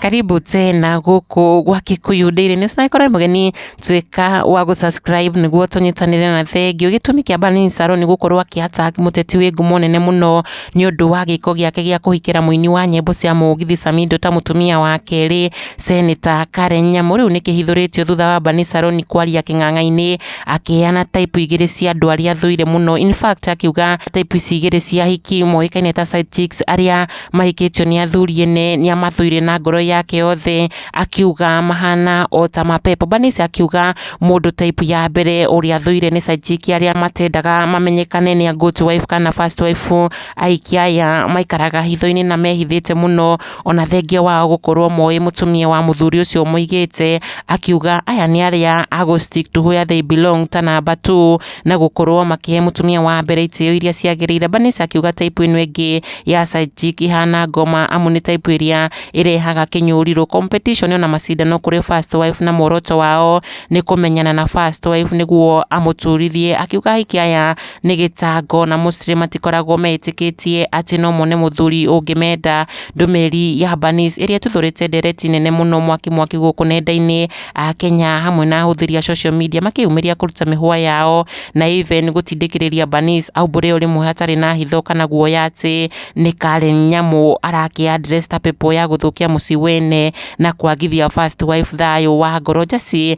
karibu tena guku gwa Kikuyu Daily News na ikorwo mugeni twika wa gu subscribe niguo tunyitanire na thengio gitumi kia Bani Saro ni gukorwo akihata muteti wi ngumo nene muno ni undu wa giko giake gia kuhikira muini wa nyimbo cia mugithi Samido ta mutumia wa keri Senator Karen Nyamu riu ni kihithuritio thutha wa Bani Saro ni kwaria king'ang'a-ini akĩheana type igĩrĩ cia andũ arĩa thũire mũno in fact akiuga type ici igĩrĩ cia hiki moĩkaine ta side chicks arĩa mahikĩtio nĩ athuri ene nĩ amathũire na ngoro yake yothe akiuga mahana o ta mapepo Bernice akiuga mũndũ type ya mbere ũrĩa athũire nĩ side chick arĩa matendaga mamenyekane nĩ a good wife kana first wife aiki aya maikaraga hitho-inĩ na mehithĩte mũno Ona thengia wao gũkorwo moĩ mũtumia wa mũthuri ũcio ũmũigĩte, akiuga aya nĩ arĩa a gũ stick to where they belong ta namba two, na gũkorwo makĩhe mũtumia wa mbere itĩo iria ciagĩrĩire. Vanessa akiuga type ĩno ĩngĩ ya side chick ĩhana ngoma amu nĩ type ĩrĩa ĩrehaga kĩnyũrirũ. Competition ona macindano kũrĩ first wife na muoroto wao nĩ kũmenyana na first wife nĩguo amũturithie. Akiuga ahikia aya... nĩ gĩtango na Muslim matikoragwo meĩtĩkĩtie atĩ no mone mũthuri ũngĩmenda. Ndũmĩrĩri ya Banis ĩrĩa ĩtuthũrĩte ndereti nene mũno mwaki mwaki gũkũ nenda-inĩ a Kenya hamwe na ahũthĩri a social media makĩyumĩria kũruta mĩhũa yao na even gũtindĩkĩrĩria Banis aumbũre o rĩmwe hatarĩ na hitho kana guoya atĩ nĩ Karen Nyamu arake address ta pepo ya gũthũkia mũciĩ wene na kwagithia first wife thayũ wa ngoro Jesse